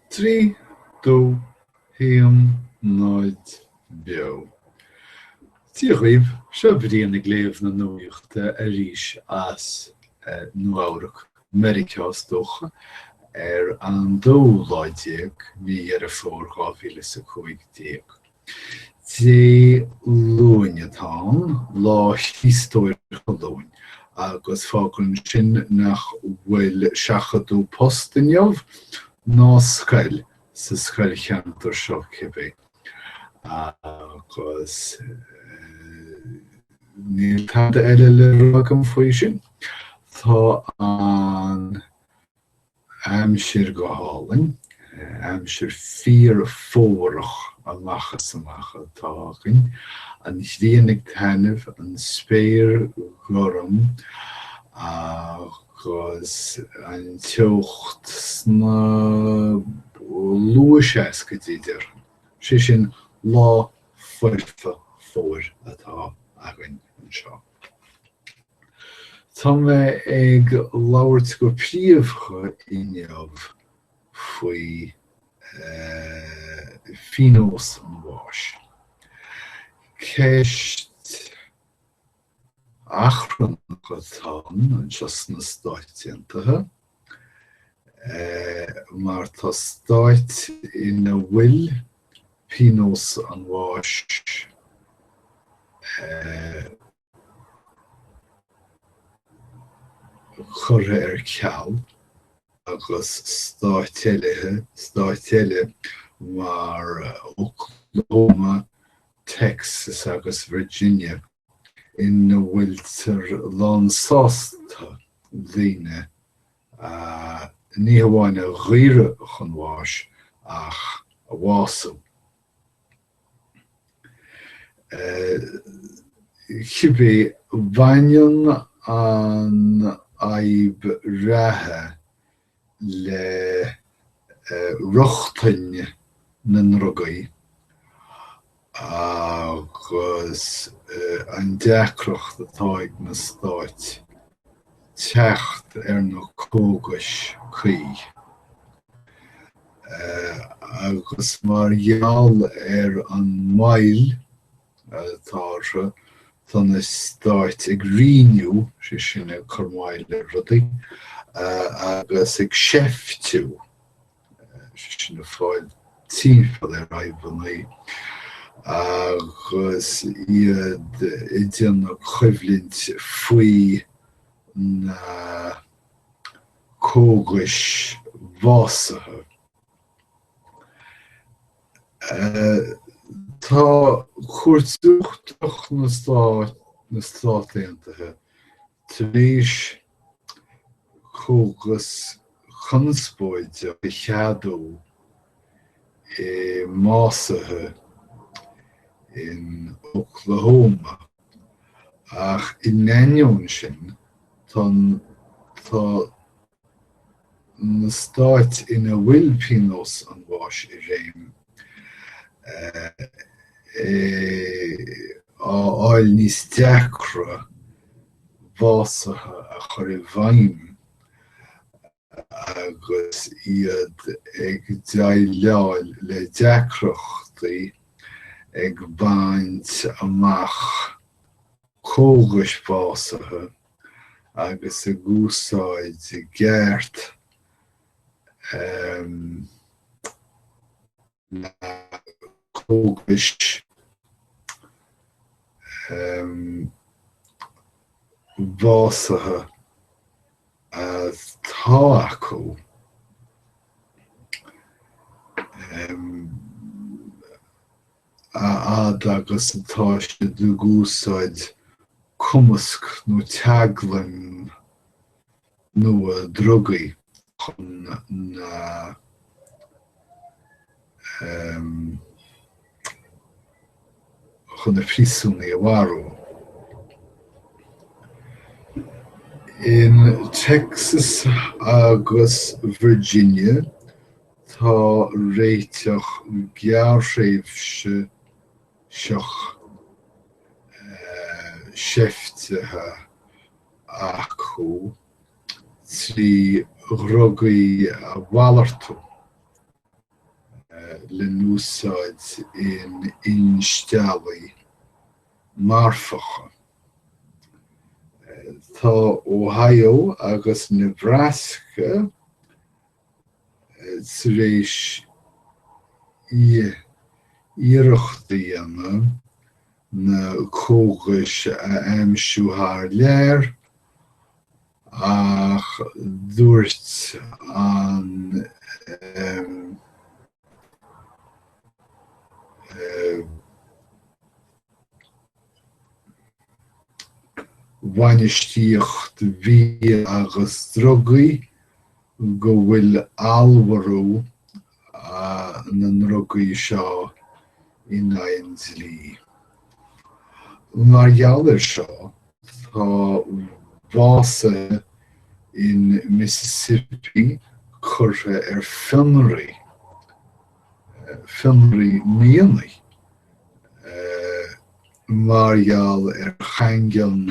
Trí, dó, haon, náid, beo. Dia dhaoibh, seo Brian ag léamh na nuachta arís as Nua Eabhrac, Meiriceá is dócha, ar an dóú lá déag, mí Dheireadh Fómhair dhá mhíle is a cúig déag. Dé Luain atá ann, Lá Chríostóir Colúin, agus fágann sin nach bhfuil seachadadh poist inniu, ná scoil, sa scoilcheantar seo cibé, agus níl tada eile le rá agam faoi sin. Tá an. Aimsir go hálainn, aimsir fíor-fhómharach amach is amach atá againn, an ghrian ag taitneamh, an spéir gorm agus an teocht sna luathseascaidí déarfainn. Sé sin, lá foirfe fómhair atá againn anseo. Tá mé ag labhairt go príomhdha inniu faoi phíonós an bháis. Ceist achrannach atá ann anseo sna Stáit Aontaithe mar tá stáit ina bhfuil píonós an bháis curtha ar ceal agus stáit eile mar Oklahoma, Texas agus Virginia ina bhfuiltear lánsásta daoine ní hamháin a dhaoradh chun bháis ach a bhású. Cibé, baineann an fhadhb reatha le rochtain na ndrugaí agus an deacracht atá ag na stáit teacht ar na cógais cuí. agus mar gheall ar an moill atá orthu tá na Stáit ag righniú, sé sin ag cur moill ar rudaí, agus ag seiftiú, sé sin ag fáil timpeall ar fhadhbannaí, agus iad ag déanamh coimhlint faoi na. cógais bhásaithe. Tá Cúirt Uachtarach na Stát Aontaithe tar éis cógas conspóideach a cheadú i mbásuithe in Oklahoma. Ach in ainneoin sin, tá na stáit ina bhfuil pionós an bháis i réim á fháil níos deacra básuithe a chur i bhfeidhm Agus iad ag déileáil le deacrachtaí ag baint amach cógais bhásaithe agus ag úsáid i gceart, em, na cógais bhásaithe atá acu a fhad agus atá siad ag úsáid cumasc nó teaglaim nua drugaí chun na chun na príosúnaigh a mharú. In Texas agus Virginia, tá réiteach gearrthréimhseach seiftithe acu trí dhrugaí a mhalartú lena n-úsáid in instealltaí marfacha. Tá Ohio agus Nebraska tar éis iarracht a dhéanamh na cógais a aimsiú thar lear, ach dúirt an bhainistíocht bia agus drugaí go bhfuil allmhairiú na ndrugaí seo in aghaidh an dlí. Mar gheall air seo, tá básaithe in Mississippi curtha ar fionraí fionraí i mí Eanáir mar gheall ar chaingean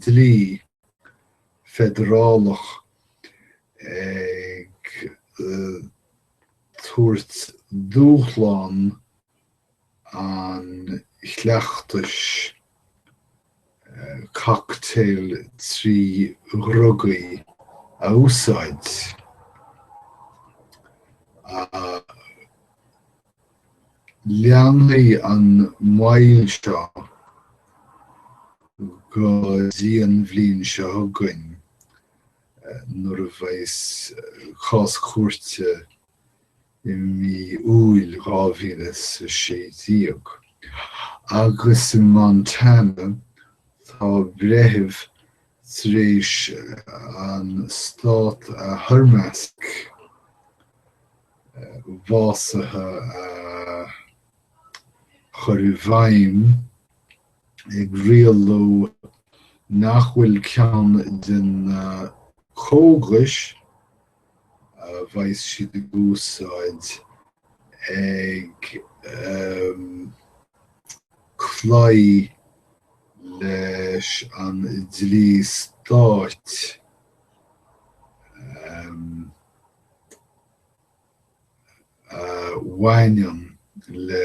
dlí feidearálach ag tabhairt dúshlán an chleachtais cocktail trí dhruga a úsáid, leanfaidh an mhoill seo go dtí an bhliain seo chugainn nuair a bheas cás cúirte i mí Iúil 2016, agus in Montana tá breitheamh tar éis an stát a thoirmeasc básaithe a chur i bhfeidhm ag rialú nach bhfuil ceann de na cógais, a bheas siad ag úsáid ag cloí leis an dlí stáit a bhaineann le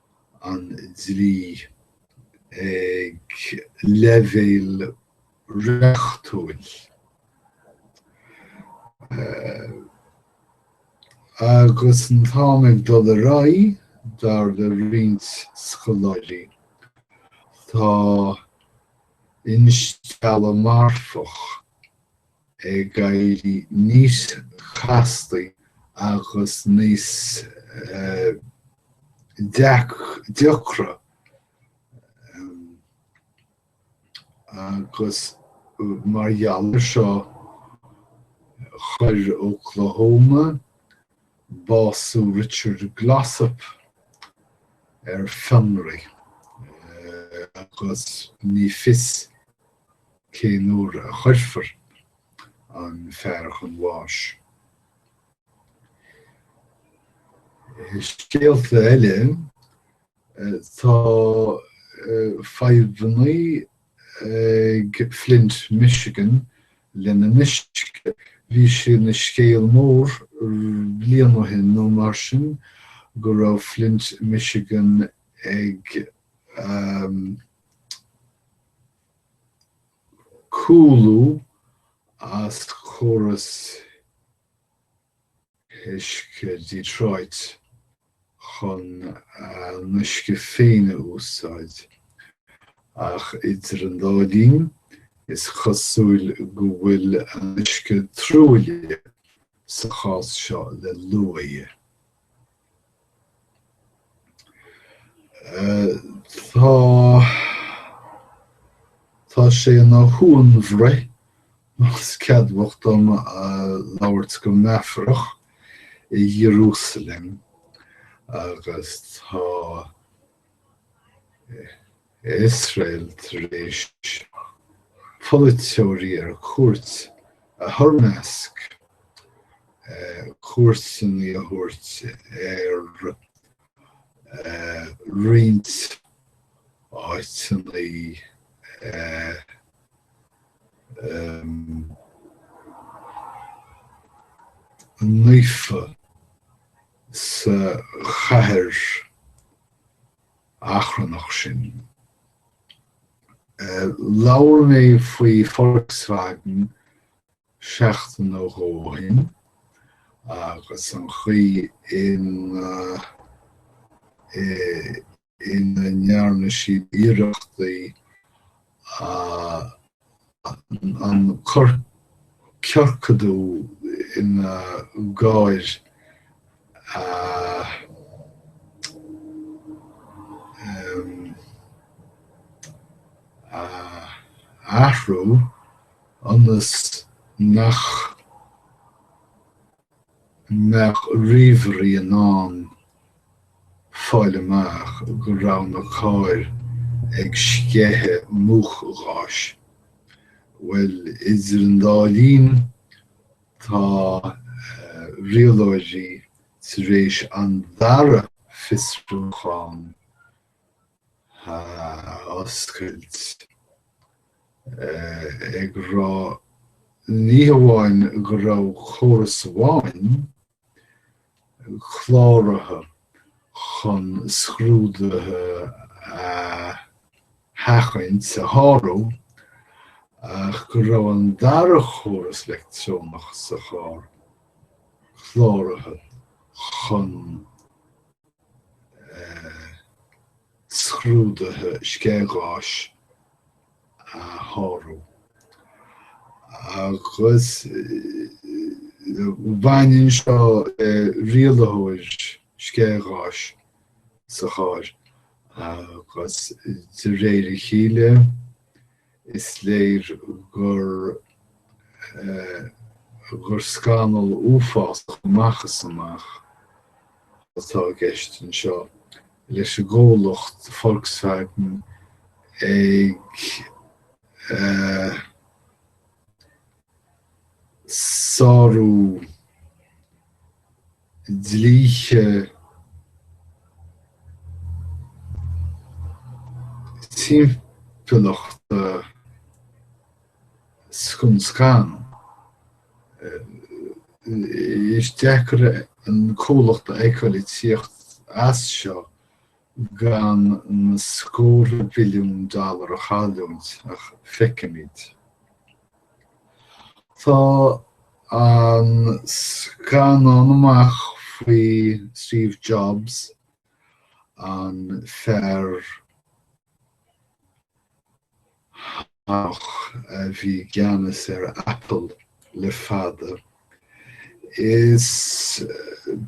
an dlí ag leibhéal reachtúil, agus an t-am ag dul ar aghaidh, dar le roinnt scoláirí, tá instealladh marfach ag éirí níos castaí agus níos deacra agus mar gheall air seo chuir Oklahoma bású Richard Glossip ar fionraí agus ní fios Cén uair a chuirfear an fear chun bháis? I scéalta eile, tá fadhbanna ag Flint, Michigan lena n-uisce. Bhí sé ina scéal mór bliain ó shin nó mar sin go raibh Flint, Michigan ag. Cúlú as córas uisce Detroit chun a n-uisce féin a úsáid, ach idir an dá linn is cosúil go bhfuil a n-uisce truaillithe sa chás seo le luaidhe. Tá, tá sé ina shuanbhruith, más ceadmhach dom labhairt go meafarach, i Iarúsailéim agus tá. Iosrael tar éis polaiteoirí ar cuairt a thoirmeasc cuairteanna a thabhairt ar roinnt áiteanna naofa. sa chathair achrannach sin. Labhair mé faoi Volkswagen seachtain nó dhó ó shin agus an chaoi ina. ina ndearna siad iarrachtaí an ciorcadú ina gcairr a athrú ionas nach. mbeadh ríomhairí in ann fáil amach go raibh na cairr ag sceitheadh múchgháis. Bhuel, idir an dá linn, tá rialóirí tar éis an dara fiosrúchán a oscailt, ag rá ní hamháin go raibh córas amháin cláraithe chun scrúduithe a sheachaint, a shárú, ach go raibh an dara córas leictreonach sa charr cláraithe chun scrúduithe sceithgháis a shárú agus baineann seo le rialaitheoir sceithgháis sa charr agus de réir a chéile. Is léir gur gur scannal uafásach amach is amach atá i gceist anseo, leis an gcomhlacht Volkswagen ag sárú na. dlíthe timpeallachta scun scan. Is deacair an comhlacht a fheiceáil ag tíocht as seo gan na scórtha billiún dollar a chailliúint ach feicfimid. Tá an scannán amach faoi Steve Jobs, an fear. ach a bhí i gceannas ar Apple le fada. Is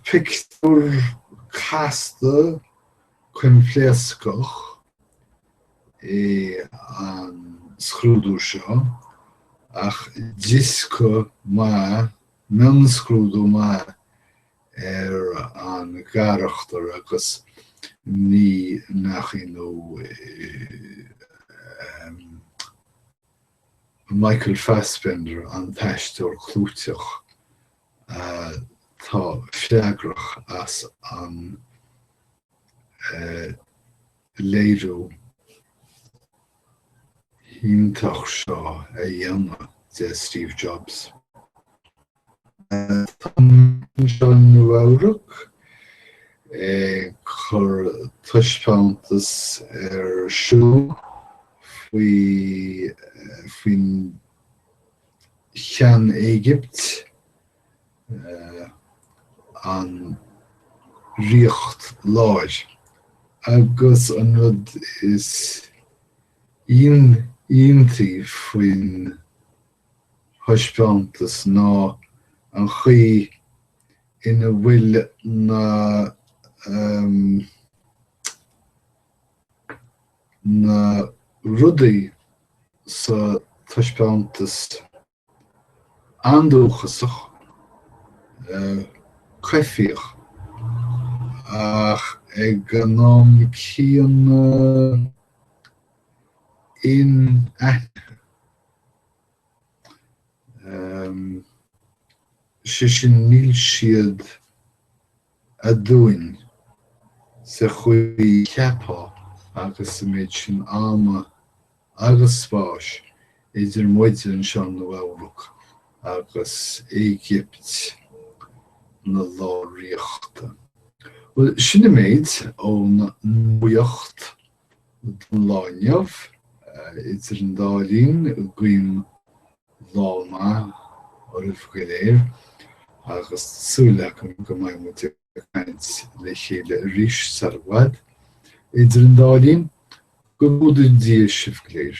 pictiúr casta coimpléascach é an scrúdú seo, ach dioscadh maith, mionscrúdú maith, ar an gcarachtar agus ní nach ionadh, Michael Fassbender, an t-aisteoir clúiteach atá freagrach as an léiriú iontach seo a dhéanamh de Steve Jobs. Tá an Met anseo i Nua-Eabhrac ag cur taispeántas ar siúl faoi faoin Shean-Éigipt, an Ríocht Láir, agus an rud is ion iontaí faoin. thaispeántas ná an chaoi ina bhfuil na em. na rudaí sa taispeántas andúchasach, eh. coimhthíoch, ach ag an am céanna inaitheanta. sé sin níl siad aduain sa chaoi a cheapfá agus an méid sin ama agus spáis idir muide anseo i Nua-Eabhrac agus Éigipt na lár-ríochta. Bhuel, sin an méid ón nuacht. Don lá inniu, idir an dá linn, guím lá maith oraibh go léir agus tá súil agam go mbeidh muid ag caint le chéile arís sar i bhfad. Idir an dá linn, go gcumhdaí Dia sibh go léir.